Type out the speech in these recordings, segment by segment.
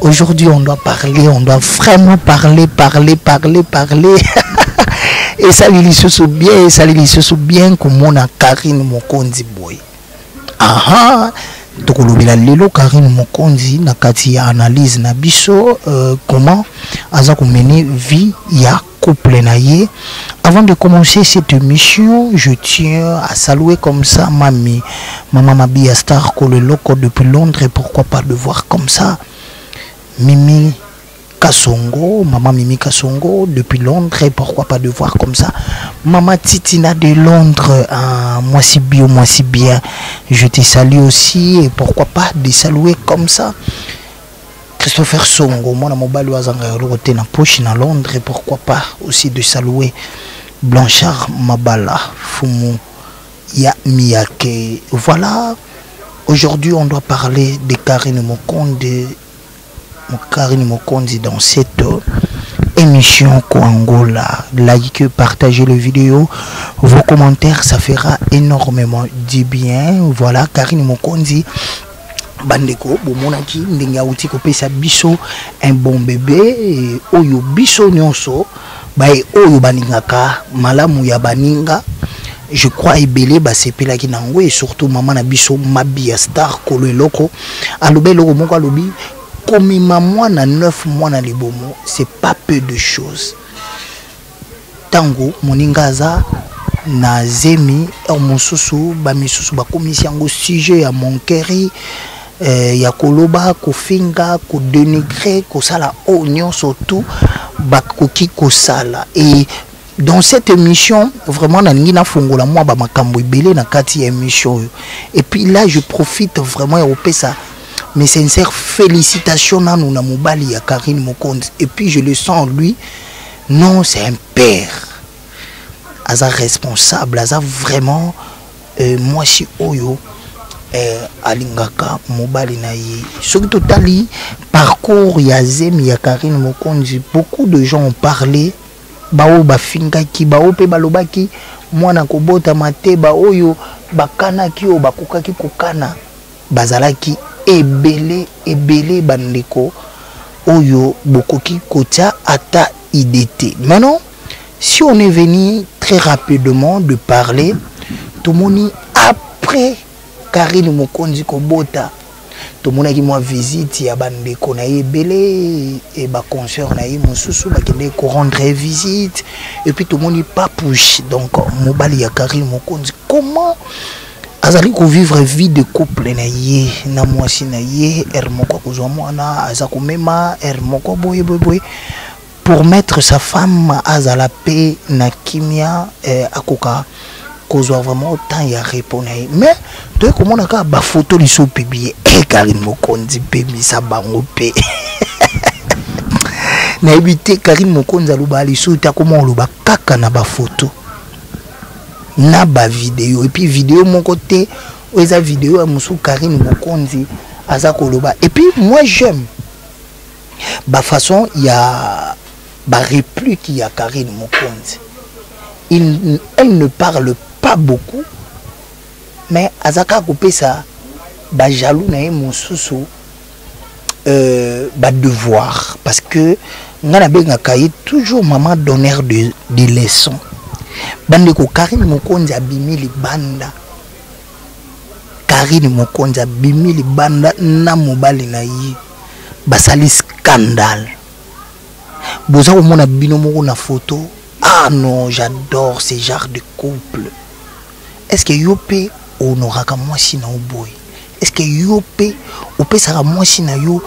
Aujourd'hui, on doit parler, on doit vraiment parler, parler, parler, parler. et ça, il se bien, et ça, il se bien que mon Karine Mokondi Boy. Aha! tokolobela lelo karine mokonzi na kati ya analyse na biso euh, comment aza komene vie ya couple na ye avant de commencer cette émission je tiens à saluer comme ça mami maman mabia star koleloko depuis londres pourquoi pas de voir comme ça mimi Kasongo, maman Mimi Kasongo, depuis Londres, et pourquoi pas de voir comme ça. Maman Titina de Londres, hein, moi si bien, moi si bien, je te salue aussi, et pourquoi pas de saluer comme ça. Christopher Songo, mwana mobali oyo azanga eloko te na poche na Londres, pourquoi pas aussi de saluer Blanchard Mabala, fumu ya Miyake. Voilà, aujourd'hui on doit parler de Karine Mokonde, Karine Mokonde dans cette émission Koangola. Likez, partagez le vidéo. Vos commentaires, ça fera énormément du bien. Voilà, Karine Mokonzi bandeko bomonaki ndenge auti kopesa biso un bon bebe oyo biso nyonso baye oyo balingaka malamu ya baninga je crois ebele basepelaki na yango e surtout mama na biso mabi ya star kolo eloko aloba eloko moko alobi komema mwana 9 mwana libomo c'est pas peu de choses ntango moninga aza na zemi heure mosusu bamisusu bakomisi yango sujet ya monkeri eh, ya koloba kofinga kodenigre kosala oyo oh, nyonso tout bakoki kosala e dans cette émission vraiment nalingi nafongola mwa bamakambo ebele na kati ya émission oyo et puis là je profite vraiment ya kopesa mes sincères félicitations nanu na mobali ya karine mokonzi et puis je le sens lui non c'est un père aza responsable aza vraiment euh, mwasi oyo euh, alingaka mobali na ye soki totali parcours ya zemi ya karine mokonzi beaucoup de gens ont parlé baoyo bafingaki baoyo mpe balobaki mwana kobotama te baoyo bakanaki oyo bakokaki kokana bazalaki ebele ebele bandeko oyo bokoki kotia ata idée te maintenant si on est venu très rapidement de parler tomoni après karine mokonzi kobota tomonaki mwa visite ya bandeko na ye ebele e baconseur na ye mosusu bakendeki korendre ye visite epuis tomoni papouche donc mobali ya karine mokonzi comment azali kovivre vie de couple na ye na mwasi na ye heure moko akozwa mwana aza komema heure moko boye boye boye pour mettre sa femme azala mpe na kimia eh, akoka kozwa vraiment temps ya repos na ye mais toye komona kaka bafoto liso publie eh, karine mokonzi mpe misa bango mpe nayebi te karine mokonzi aloba liso te akoma oloba kaka na bafoto na ba video et puis video moko te eza video ya musu Karine Mokonzi aza koloba et puis moi j'aime ba façon ya ba réplique ya Karine Mokonzi il elle ne parle pas beaucoup mais azaka kopesa ba jaloux na ye mususu euh, ba devoir parce que nga na benga kaye toujours maman donneur de, de leçon bandeko karine mokonzi abimi libanda karine mokonzi abimi libanda na mobali na ye basali scandale boza komona bino moko na foto ah non j'adore ce genre de couple est ce que yo mpe onoraka mwasi na oboye est ce que yo mpe opesaka mwasi na yo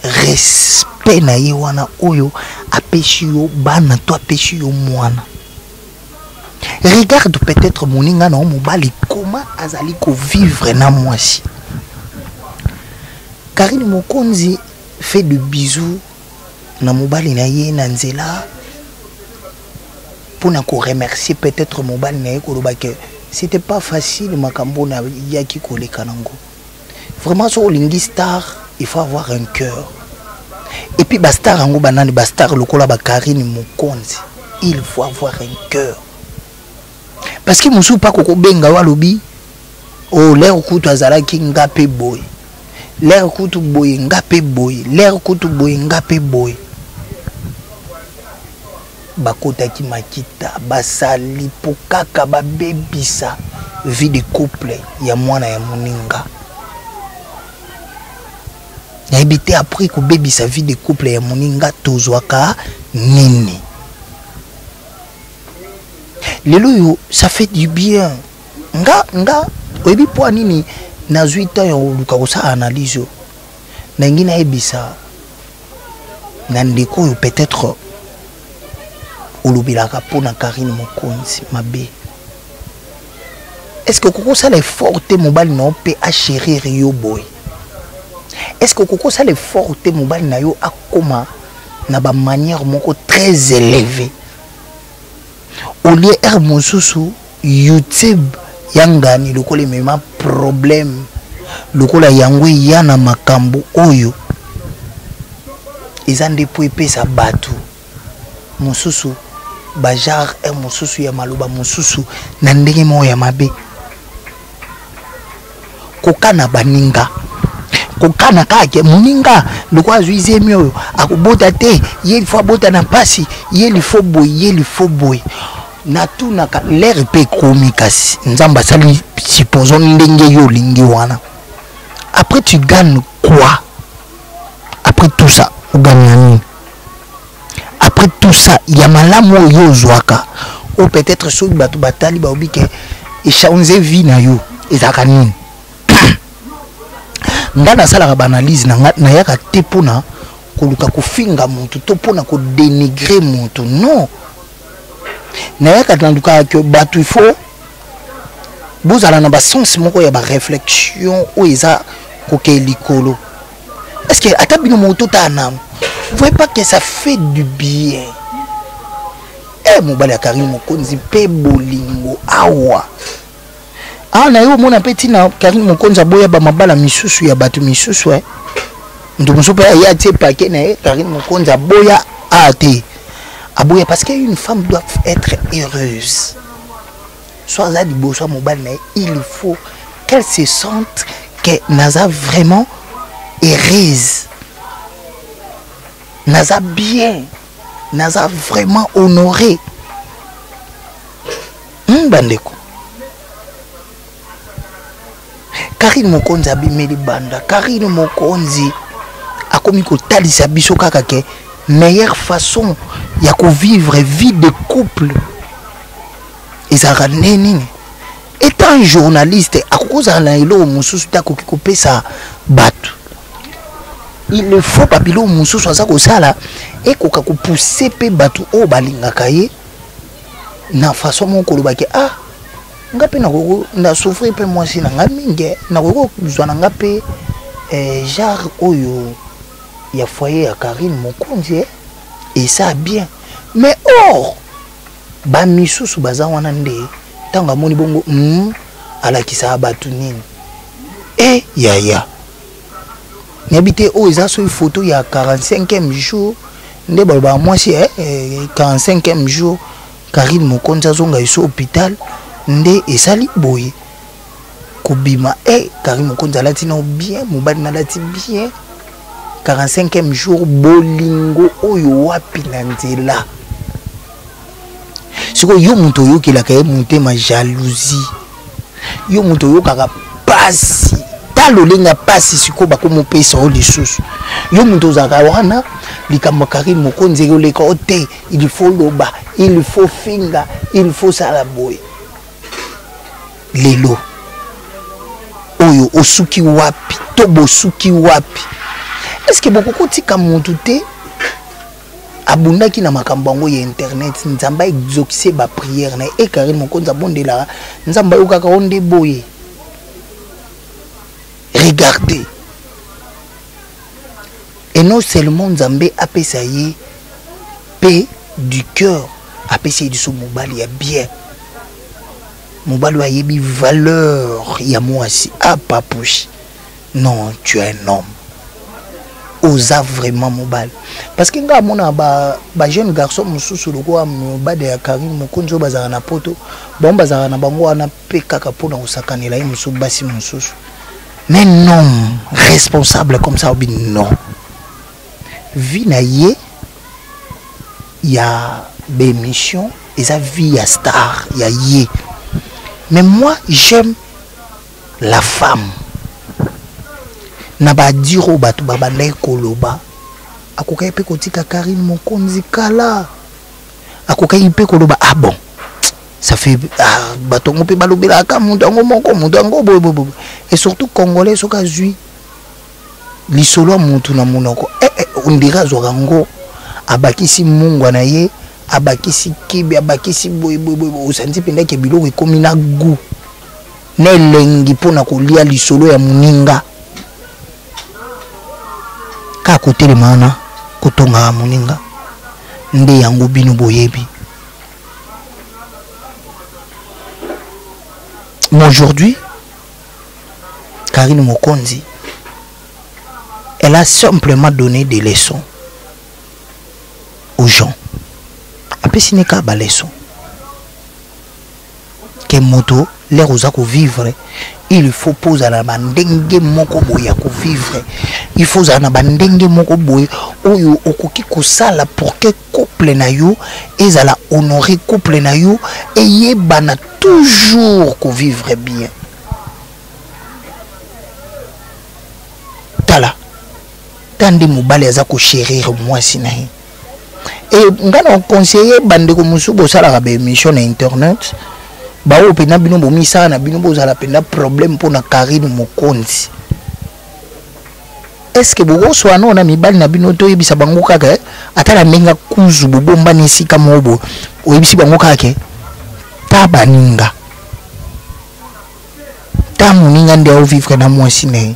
respect na ye wana oyo apesi yo bana to apesi yo mwana regarde peut-être moninga na yo mobali koma azali kovivre na mwasi karine mokonzi fait de bisous na mobali na ye na nzela mpona koremercier peut-être mobali na ye koloba ke c'était pas facile makambo na yaki koleka nango vraiment soki olingi star il faut avoir un cœur et puis bastar yango banani bastar lokola bakarine mokonzi il faut avoir un cœur parce que mosusu mpa kokobenga yo alobi o oh, lere kutu azalaki nga mpe boye lere kutu boye nga mpe boye lere kutu boye nga mpe boye bakotaki makita basali mpo kaka babebisa vie de couple ya mwana ya moninga nayebi te apres kobebisa vie de couple ya moninga tozwaka nini lelo oyo ça fait du bien nga nga oyebi mpo nini nazwi ntango ya koluka kosala analyse oyo nalingi nayebisa na ndeko oyo peut-être olobelaka mpo na karine mokonzi mabe estce okoki osala effort te mobali na yo mpe achérir yo boye estce okoki osala effort te mobali na yo akóma na bamanière moko très élevée olie ere mosusu youtube ya ngani lokola emema problème lokola yango eya na makambo oyo eza nde mpo epesa bato mosusu bagenre mosusu ya maloba mosusu na ndenge moko ya mabe kokana baninga kokana kaka ke moninga lokola azwi zemi oyo akobota te ye lifo abota na mpasi ye lifo boye ye lifo boye natunaka lere mpe ekomi kasi nzambe asali supposons ndenge yo olingi wana après tu gagne quoi après tout ça ogangnani après tout ça ya malamu oyo yo ozwaka oyo peut-être soki bato batali baobi ke echange vie na yo ezalaka nini ngai nasalaka baanalyse na ngai nayaka te mpona koluka kofinga motu to mpona kodenigre motu non nayaka nalukaka ke bato il faut bozala na basense moko ya baréflexion oyo eza kokee likolo Parce que ata bino moto ta na vous voyez pas que ça fait du bien. Eh mobali ya Karine Mokonzi pe bolingo awa. Ah na yo mona pe tina Karine Mokonzi aboya ba mabala misusu ya bato misusu eh. Ndo mosusu pe ya tie paquet na ye Karine Mokonzi aboya ah te. Aboya parce qu'une femme doit être heureuse. so aza liboso ya mobali na ye il faut qu'elle se sente que naza vraiment heureuse naza bien naza vraiment honore hmm, bandeko Karine Mokonzi abimeli banda. Karine Mokonzi akomi kotalisa biso kaka ke meilleure façon ya kovivre vie de couple ezalaka nde nini etant journaliste akoki kozala na eloko mosusu te akoki kopesa bato il le faut babiloko mosusu aza kosala ekoka kopousse mpe bato oyo balingaka ye na façon moko kolobaki ah nga mpe nakoki na souffrir mpe mwasi na nga mingi eh. nakoki kozwa na nga mpe eh, genre oyo ya foyer ya karine mokonzi eh. eza bien mais or bamisusu baza wana nde ntango amoni bongo mm, alakisaka bato nini e yaya nayebi te oyo eza soki foto ya 45e jour nde balobaka mwasi eh, 45e eh, jour Carine Mokonzi azonga iso hôpital nde esali boye kobima eh Carine Mokonzi alati na bien mobali nalati bien 45e jour bolingo oyo wapi na nzela sikoyo yo moto oyokelaka ye motema jalousie yo moto oyokaka pasi ta lolenga pasi sikoyo bakomopesa yo lisusu yo moto ozalaka wana likambo kari mokonzi ekoleka o te il faut loba il faut finga il faut sala boye lelo oyo osuki wapi to bosuki wapi estce bokokotika motu te abundaki na makambo yango ya internet nzambe aexokise bapriere na ye e karine mokonzi abondelaka nzambe ayokaka o nde boye regarde et non seulement nzambe apesa ye mpe du cœur apesi ye liso mobali ya bien mobali oyo ayebi valeur ya mwasi apapushi ah, non tu es un homme oza vraiment mobali parce que ngai amona ba, ba jeune garçon mosusu lokola mobali ya karine mokonzi oyo bazalaka na poto bango bazalaka na bango wana mpe kaka mpo na kosakanela ye mosusu basi mosusu mais non responsable comme ça obi non vie na ye ya baémission eza vie ya star ya ye mais moi j'aime la femme na badire oyo bato babandaki koloba akokaki mpe kotika karine mokonzi kala akokaki mpe koloba ah bon ça fait ah, bato yango mpe balobelaka moto yango moko moto yango boyeboyeboye et surtout congolais soki azwi lisolo ya motu na monoko eh, eh, ondire azwaka yango abakisi mungwa na ye abakisi kibi abakisi boyeboyeboye osanzi mpenza ke biloko ekomi na gout na elengi mpo na kolia lisolo ya moninga kaka kotelema wana kotongaka moninga nde yango bino boyebi mais aujourd'hui karine mokonzi elle a simplement donné des leçons aux gens apesi ne kaka baleçon ke moto lere oza kovivre il faut mpo ozala na bandenge moko boye ya kovivre il faut ozala na bandenge moko boye oyo okoki kosala pour ke couple na yo ezala honore couple na yo eyebana toujours kovivre bien tala ta nde mobali aza kochérir mwasi na ye e ngai na conseiller bandeko mosusu bosalaka baémission na internet baoyo mpenza bino bomisala na bino bozala mpenza problème mpo na karine mokonzi estce bokoswa nao na mibali na bino toyebisa bango kaka eh? ata na ndenge kuzu bobombani esika moko boye oyebisi bango kaka ke ta baninga ta moninga nde aovivre na mwasi na ye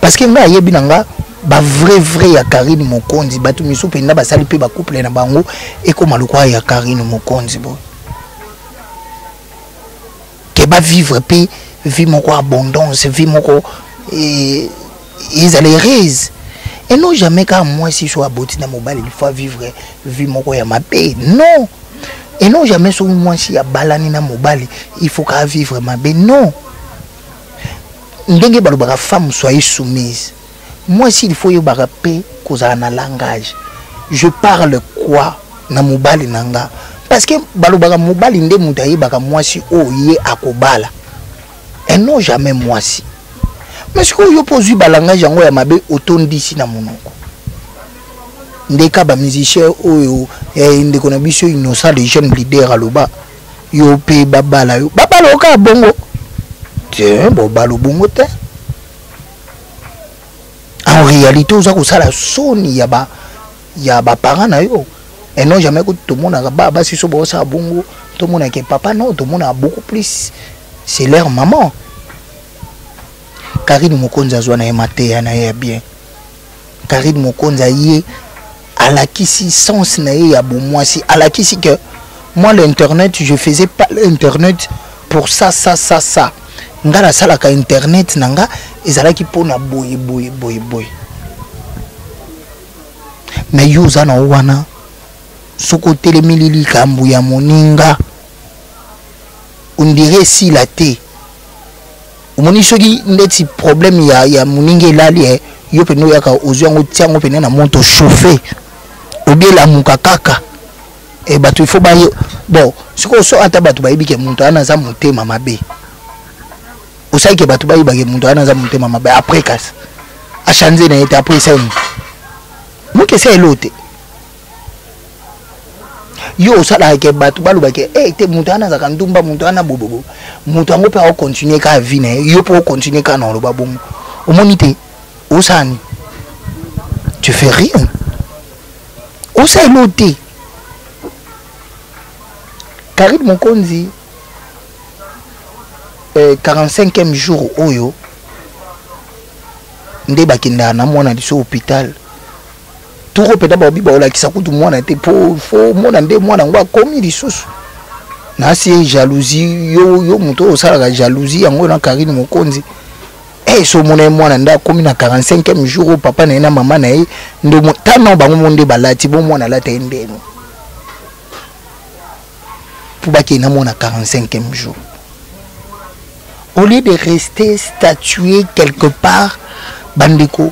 parce que nga ayebi na nga ba vrai vrai ya Karine Mokonzi batu misu penda basali pe ba couple na bango ekoma lokwa ya Karine Mokonzi bo ke ba vivre pe vie moko abondance vie moko et ils allaient raise et non jamais car moi si soit aboti na mobali il faut vivre vie moko ya mabe non et non jamais soki mwasi abalani na mobali il faut ka vivre mabe non ndenge balobaka femme soyez soumise mwasi il faut oyebaka mpe kozala na langage je parle quoi na mobali na nga parce que balobaka mobali nde moto ayebaka mwasi oyo ye akobala et non jamais mwasi mais sikoyo yo mpo ozwi balangage yango ya mabe otondisi na monoko ndeka bamusicien oyo eh, ndeko na biso innocent le jeune leader aloba yo pe babala yo babala yo kaka bongo te bobala bongo te en réalité oza kosala soni ya ba ya baparent na yo et non jamais kutu tomonaka ba basi so baosala bongo tomonaka papa non tomonaka beaucoup plus c'est leur maman karine mokonzi azwa na ye mateya na ye ya bien Carine Mokonza ye alakisi sens na ye ya bomwasi alakisi que moi l'internet je faisais pas l'internet pour ça ça ça ça nga nasalaka internet na nga ezalaki mpo na boye boye boye boye me yo oza na wana soki otelemeli likambo ya moninga ondire esila te omoni soki ndeti problème ya, ya moninga elali eh, yo mpena oyaka ozwi yango tia yango mpena na moto chauffe obielamuka kaka e eh, bato ifo baye bon sikoyo so ata bato bayebi ke moto wana aza motema mabe osali ke bato bayeba ke moto wana aza motema mabe après kasi achange na ye te après esali moke esa elo te yo osalaka ke bato baloba ke e te moto wana azalaka ndumba moto wana bobobo moto yango mpe aokontinue kaka vi na ye yo mpe okontinue kaka na oloba bongo omoni te osala nini tu fais rien osala elo te karine mokonzi eh, 45e jour oyo nde bakendaka na mwana liso hôpital toko peda baobi baolakisa kutu mwana te po fo mona nde mwana yango akomi lisusu nasi ye jalousie yo, yo moto oyo osalaka jalousie yango na karine mokonzi hey, eh, so omona ye mwana nde akomi na 45e jour oyo papa na ye na mama na ye nde tano bango mo nde balati bo mwana alata ye ndeno mpo bakei na mwana 45e jour au lieu de rester statuer quelque part bandeko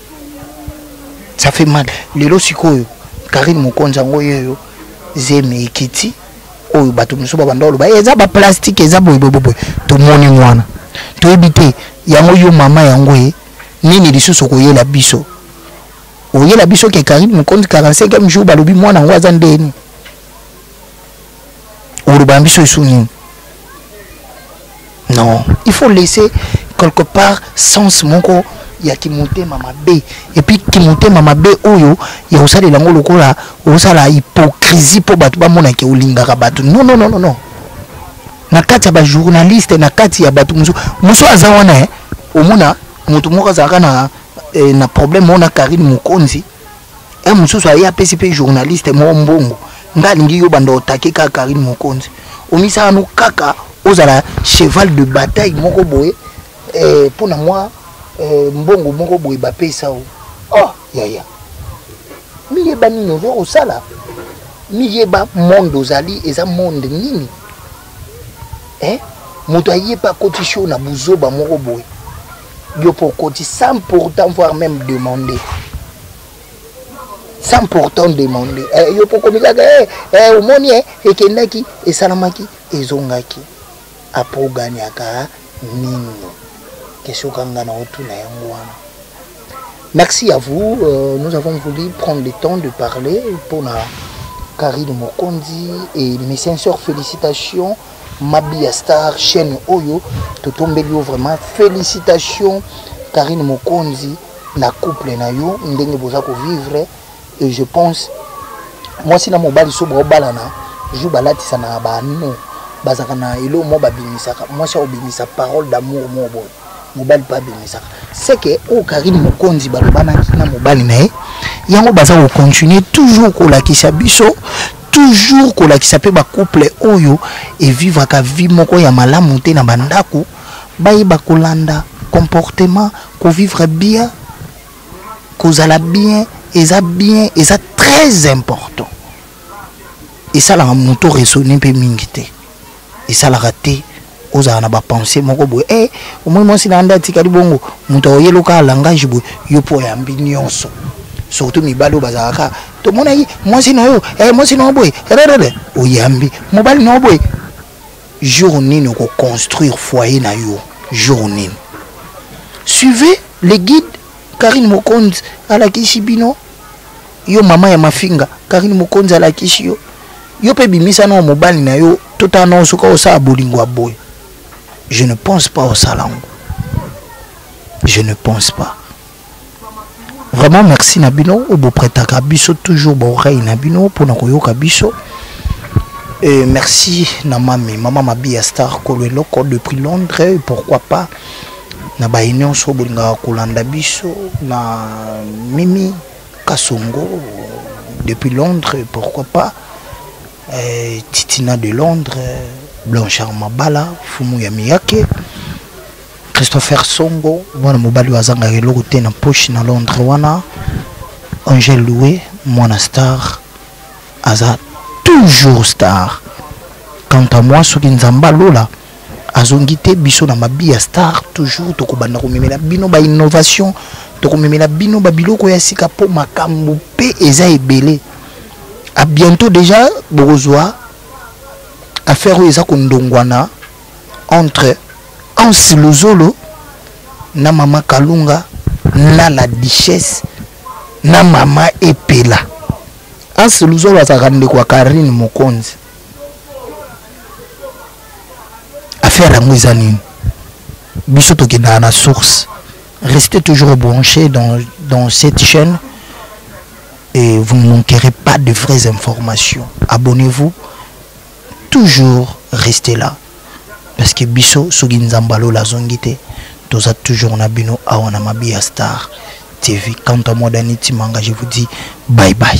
ça fait mal lelo sikoyo karine mokonzi yango yoyo zemi ekiti oyo bato mosusu babanda oloba eh, eza baplastike eza boyeboyeboye tomoni mwana toyebi te yango yo mama yango ye eh, nini lisusu okoyela biso oyela biso ke karine mokonzi 45 jour balobi mwana yango aza ndeni oloba na biso esu nini non il faut laisser quelque part sens moko ya kimotema mabe epuis kimotema mabe oyo ya kosalela yango lokola osala hypocrisie mpo bato bamonake olingaka bato non non non non na kati ya bajournaliste na kati ya bato mosusu mosusu aza wana eh. omona moto moko azalaka na, eh, na problème moko na karine mokonzi e mosusu aye apesi mpe journaliste moko mbongo nga alingi yo banda otake kaka karine mokonzi omisala no kaka ozala cheval de bataille moko boye eh, mpo na mwa eh, mbongo moko boye bapesa o oh, yaya miyeba nini ozo kosala miyeba monde ozali eza monde nini eh? moto aye mpe akoti sho na buzoba moko boye yo mpo okoti sans pourtant voire même demande sans pourtant demande eh, yo mpo okomi kaka eh, eh, omoni eh, ekendaki esalamaki ezongaki apo oganiaka nini question kanga na otuna yango wana merci à vous euh, nous avons voulu prendre le temps de parler mpona Karine Mokondi et mes sincères félicitations Mabi ya star chaîne oyo totombeli yo vraiment félicitations Karine Mokonzi na couple na yo ndenge boza ko vivre et je pense mwasi na mobali so baobalana jour balatisana na baano bazalaka na eloko moko babimisaka mwasi aobimisa parole d'amour moko boye mobali mpe abimisaka seke oyo oh, karine mokonzi balobanaki na mobali na ye yango baza kocontinue toujours kolakisa biso toujours kolakisa mpe bacouple oyo evivraka vie moko ya malamu te na bandako bayeba kolanda comportement kovivre bien kozala bien eza bien eza très important esalaka moto resonne mpe mingi te esalaka te ozala na bapense moko boye e eh, omoi mwasi na yanda atikali bongo moto aoyeloka langage boye yo mpo oyambi nyonso surtout mibali oyo bazalaka tomonaki mwasi na yo e eh, mwasi na yo boye rerere oyambi mobali na yo boye jour nini okoconstruire foyer na yo jour nini suivez les guides karine mokonzi alakisi bino yo mama ya mafinga karine mokonzi alakisi yo yo mpe bimisa nao mobali na yo totala nao soki osala bolingo ya boye je ne pense pas osala yango je ne pense pas vraiment merci na bino oyo bopretaka biso toujours baoreille na bino mpona koyoka biso Et merci na mami mama mabia star kolo eloko depuis londres et pourquoi pas na baye nyonso bolingaka kolanda biso na mimi Kasongo depuis Londres pourquoi pas euh, Titina de Londres Blanchard Mabala Fumu ya Miyake Christopher Songo mwana mobali azangaka eloko te na poche na Londres wana Angel Loué mwana star aza toujours star quant à moi soki nzambe alola azongi te biso na mabi ya star toujours tokobanda komemela bino ba innovation tokomemela bino ba biloko ya sika mpo makambo mpe eza ebele a bientôt déjà bokozwa affaire oyo eza kondongwana entre ansi luzolo na mama kalunga na la duchesse na mama epela ansi luzolo azalaka ndeko ya karine mokonzi affaire yango eza nini biso tokendaka na source restez toujours branché dans, dans cette chaîne et vous ne manquerez pas de vraies informations abonnez-vous toujours restez là parce que biso soki nzambe alola azongi te toza toujours na bino awa na mabiya star tv quant à moi dani timanga je vous dis bye bye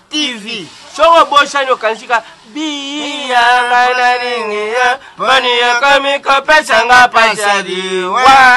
TV soko bosani okanisika biya nga nalingi ye moni ekomi kopesa nga pasadi wa